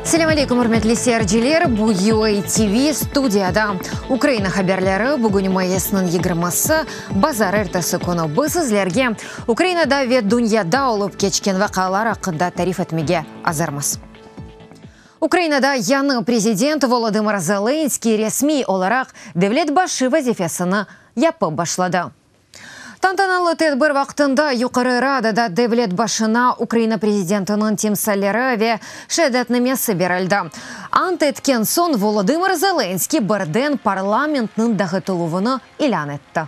Selâm aleykum, ürmetli seyirciler! Bu UA TV, studiyada Ukraina haberleri. Bugün mayısnıñ yigirması, bazar. Ertesi künü biz sizlerge Ukrainada ve dünyada olıp keçken vaqialar aqqında tarif etmege azırmız. Ukrainada yañı prezident Volodımır Zelenskıy resmiy olaraq devlet başı vazifesini yapıp başladı. Tantanalı tedbir vaqtında Yuqarı Radada devlet başına Ukraina prezidentiniñ timsalleri ve şeadatnamesi berildi. Ant etken soñ Volodımır Zelenskıy birden parlamentniñ dağıtıluvını ilân etti.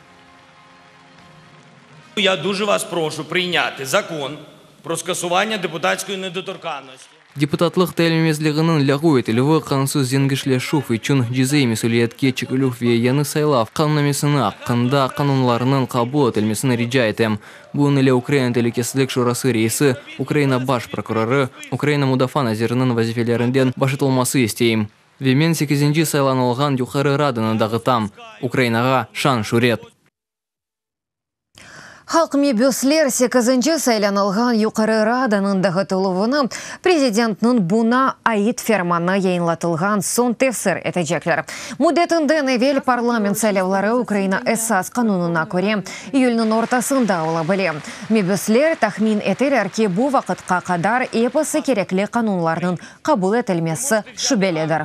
Deputatlıq tayinlemezliginiñ lâğu etilüvi qanunsız zengişleşüv içün cezaiy mesüliyetke çekilüv ve yañı saylav qanunnamesini aqqında qanunlarnıñ qabul etilmesini rica etem. Bugün ile Ukraina telükesizlik şurası reisi, Ukraina baş prokurorı, Ukraina mudafaa naziriniñ vazifelerinden boşatılması isteyim. Ve men sekizinci saylanılğan Yuqarı Radanı dağıtam. Ukrainağa şan-şüret! Halq mebüsler sekizinci saylanılğan Yuqarı Radanıñ dağıtıluvını prezidentniñ buña ait fermanı yayınlatılğan soñ tefsir etecekler. Müddetinden evel parlament saylavları Ukraina esas qanunına köre iyülniñ ortasında ola bile. Mebüsler tahmin eteler ki, bu vaqıtqa qadar episi kerekli qanunlarnıñ qabul etilmesi şübelidir.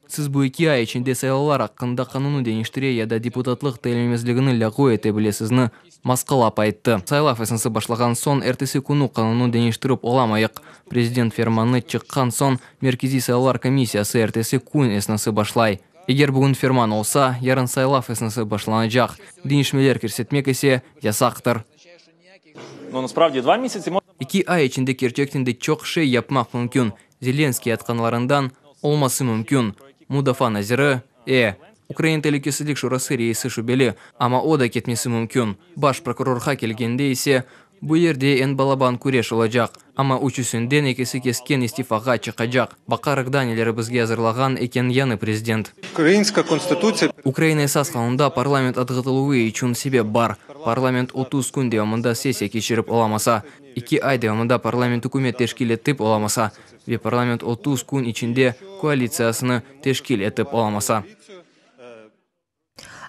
Siz bu eki ay içinde saylavlar aqqında qanunı deñiştire ya da deputatlıq tayinlenmezligini lâğu ete bilesizmi? Moskal ap ayttı, Saylav esnası başlağan soñ ertesi künü qanunı deñiştirip olamayıq. Prezident fermanı çıqqan soñ Merkeziy saylavlar komissiyası ertesi kün esnası başlay. Eger bugün ferman olsa, yarın saylav esnası başlanacaq, deñişmeler kirsetmek ise yasaqtır. İki ay içinde kerçekten de çoq şey yapmaq mümkün, Zelenskıy aytqanlarından olması mümkün, mudafaa naziri, e, Ukraina telükesizlik şurası reisi şübeli, amma o da ketmesi mümkün, baş prokurorğa kelgende ise, bu yerde eñ balaban küreş olacaq. Amma üçüsinden ekisi kesken istifağa çıqacaq. Baqarıq da, neleri bizge azırlağan eken yañı prezident. Ukraina esas qanunda parlament atğıtıluvı içün sebep bar. Parlament otuz kün devamında sessiya keçirip olamasa, eki ay devamında parlament ükümet teşkil etip olamasa ve parlament otuz kün içinde koalitsiyasını teşkil etip olamasa.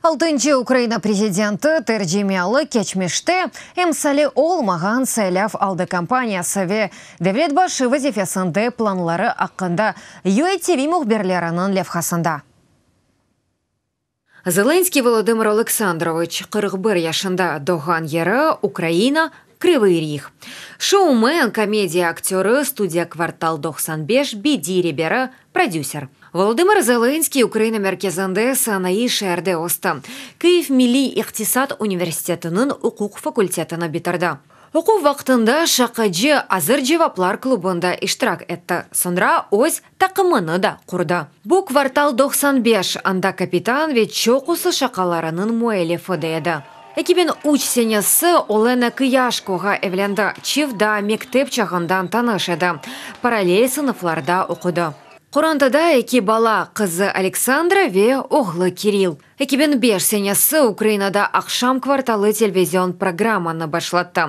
Altıncı Ukraina prezidenti tercimealı keçmişte emsali olmağan saylav aldı kampaniyası ve devlet başı vazifesinde planları aqqında UATV mühbirleriniñ levhasında. Zelenskıy Volodımır Oleksandroviç, qırq bir yaşında, doğğan yeri, Ukraina, Krıvıy Rih. Şoumen, komediya aktörı, Studiya Kvartal doqsan beş, BD reberi, prodüser. Volodımır Zelınskiy Ukraina merkezinde sanaiy şeerde östi. Kyiv milliy iqtisat universitetiniñ uquq fakultetini bitirdi. Oquv vaqtında şaqacı Azır cevaplar klubında iştirak etti, soñra öz Taqımını da qurdı. Bu Kvartal doqsan beş, anda kapitan ve çoqusı şaqalarınıñ müellifi de edi. Eki biñ üç senesi Olena Kıyaşkoğa evlendi, çift daa mektep çağından tanış edi, parallel sınıflarda oqudı. Qorantada eki bala, qızı Aleksandra ve oğlu Kiril. Eki biñ beş senesi Ukrainada Aqşam kvartalı telvizion programmanı başlattı.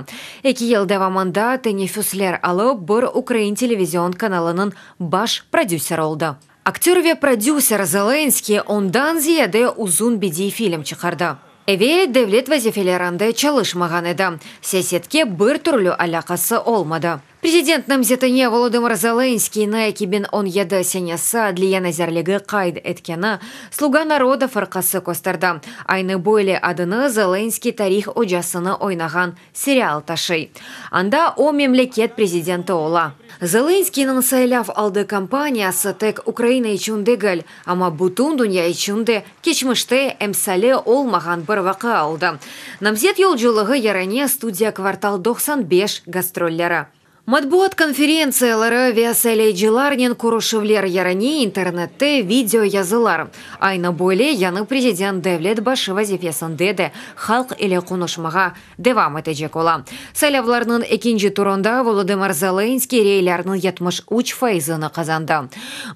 Eki yıl devamında teneffüsler alıp, bir ukrain televizion kanalınıñ baş prodüseri oldı. Aktör ve prodüser Zelenskıy ondan ziyade uzun bediy film çıqardı. Evel devlet vazifelerinde çalışmağan edi, siyasetke bir türlü alâqası olmadı. Prezident namzetine Volodımır Zelenskıynı eki biñ on yedi senesi Adliye nazirligi qayd etkeni Sluga naroda fırqası kösterdi. Aynı böyle adını Zelenskıy tarih ocasını oynağan serial taşıy. Anda o memleket prezidenti ola. Zelenskıynıñ saylav aldı kampaniyası tek Ukraina içün degil, amma bütün dünya içün de Keçmişte emsali olmağan bir vaqia oldı, Namzet yolculığı yarane Studiya Kvartal doqsan beş gastrolleri. Matbuat konferentsiyaları ve saylaycılarnen körüşüvler yarane internette video yazılar. Aynı böyle yañı prezident devlet başı vazifesinde de halq ile qonuşmağa devam etecek ola. Saylavlarnıñ ekinci turunda Volodımır Zelenskıy reylerniñ yetmiş üç faizini qazandı.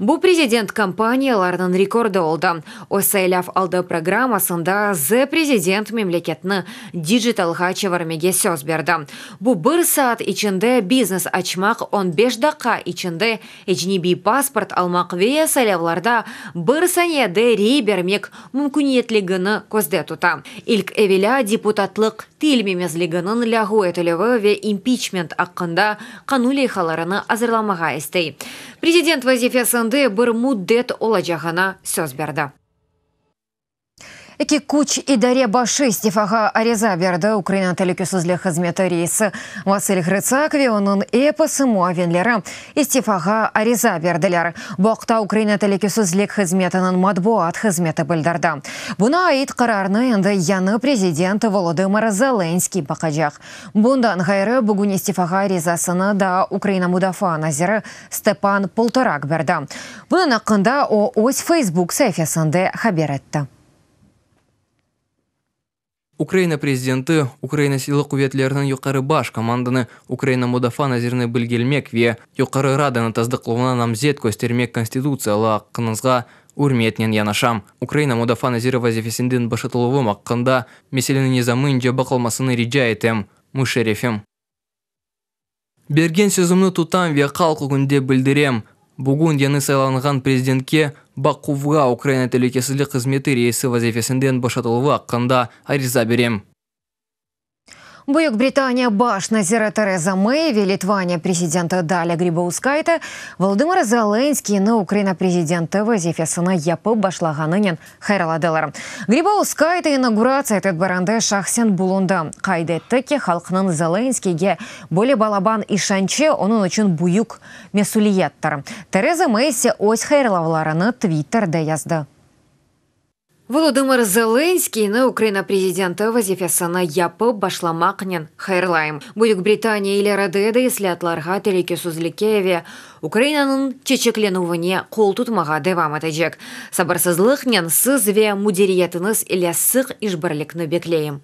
Bu prezident kampaniyalarınıñ rekordı oldı. Öz saylav aldı programmasında Ze prezident memleketni dijitalğa çevirmege söz berdi. Bu bir saat içinde biznes açmaq, on beş daqqa içinde Ecnebiy pasport almaq ve saylavlarda bir saniyede rey bermek mümküniyetligini közde tuta. İlk evelâ deputatlıq tiyilmemezliginiñ lâğu etilüvi ve impiçment aqqında qanun leyhalarını azırlamağa istey. Prezident vazifesinde bir müddet olacağına söz berdi. Eki küç idare başı istifağa ariza berdi, Ukraina telükesizlik hızmeti reisi Vasil Ğrıtsak ve onıñ episi muavinleri istifağa ariza berdiler, bu aqta Ukraina telükesizlik hızmetiniñ matbuat hızmeti bildirdi. Buña ait qararnı endi yañı prezident Volodımır Zelenskıy baqacaq. Bundan ğayrı, bugün istifağa arizasını daa Ukraina mudafaa naziri Stepan Poltorak berdi. Bunıñ aqqında o, öz Facebook saifesinde haber etti. Ukraina prezidenti Ukraina Silâlı quvetleriniñ Yuqarı Baş komandanı, Ukraina Mudafaa nazirini bilgelmek ve Yuqarı Radanıñ tasdıqlavına namzet köstermek konstitutsiyalı aqqıñızğa ürmetnen yanaşam. Ukraina Mudafaa naziri vazifesinden boşatıluvım aqqında meseleniñ nizamınca baqılmasını rica etem, Muşerefim. Bergen sözümni tutam ve halq ögünde bildirem, bugün yañı saylanğan prezidentke Bakuvğa Ukraina telükesizlik hızmeti reisi vazifesinden boşatıluvı aqqında ariza berem. Büyük Britaniya baş naziri Tereza Mey ve Litvaniya prezidenti Dalia Gribauskaite Volodımır Zelenskiyni Ukraina prezidenti vazifesini yapıp başlağanınen Hayralladılar. Gribauskaya da inauguratsiya tedbirinde şahsen bulundı, qayd etti ki, halqnıñ Zelenskiyge böyle balaban işançı onıñ içün büyük mesüliyettir. Tereza Mey ise öz hayırlavlarını Twitterde yazdı. Volodımır Zelenskiyni Ukraina prezidenti vazifesini yapıp başlamaqnen hayırlayım. Büyük Britaniya ileride de islâatlarğa, telükesizlikke ve Ukrainanıñ çeçeklenüvine qol tutmağa devam etecek. Sabırsızlıqnen siz ve müdiriyetiñiz ile sıq işbirlikni bekleyim.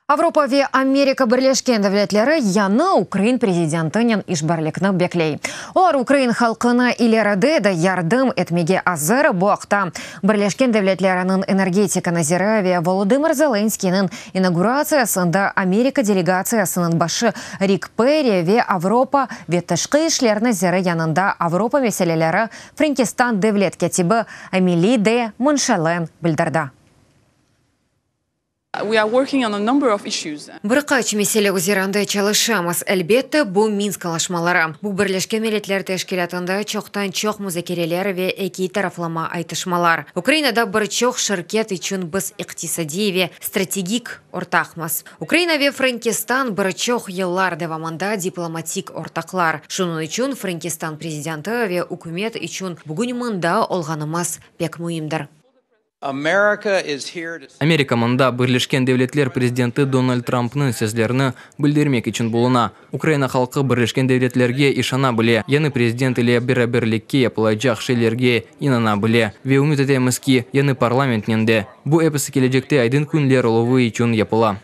Avropa ve Amerika Birleşken Devletleri yañı ukrain prezidentinen işbirlikni bekley. Olar ukrain halqına ileride de yardım etmege azır, bu aqta Birleşken Devletleriniñ energetika naziri ve Volodımır Zelenskiyniñ inauguratsiyasında Amerika delegatsiyasınıñ başı Rik Perri ve Avropa ve tışqı işler naziri yanında Avropa meseleleri Frenkistan devlet kâtibi Ameli de Monşalen bildirdi. Bir qaç mesele üzerinde çalışamız. Elbette, bu Minsk alaşmaları. Bu Birleşken Milletler Teşkilâtında çoqtan-çoq muzakereler ve ekiy taraflama aytışmalar. Ukrainada bir çoq şirket içün biz iqtisadiy ve strategik ortaqmız. Ukraina ve Frankistan bir çoq yıllar devamında diplomatik ortaqlar. Şunıñ içün Frankistan prezidenti ve ükümet içün bugün mında olğanımız pek müimdir. Amerika mında Birleşken Devletler prezidenti Donald Trampnıñ sözlerini bildirmek içün buluna. Ukraina halqı Birleşken Devletlerge işana bile, yañı prezident ile beraberlikke yapılacaq şeylerge inana bile. Ve ümüt etemiz ki, yañı parlamentnen de. Bu episi kelecekte aydın küñler oluvı içün yapıla.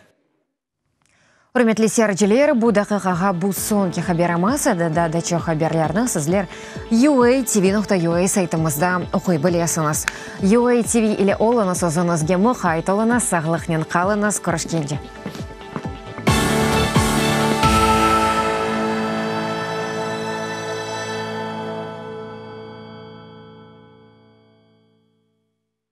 Ürmetli seyirciler, bu daqiqağa bu soñki haber olmasa da, daa da çoq haberlerni sizler UATV nokta UA saytımızda oquy bilesiñiz. UATV ile oluñız, özüñizge muqayt oluñız, sağlıqnen qalıñız, körüşkence!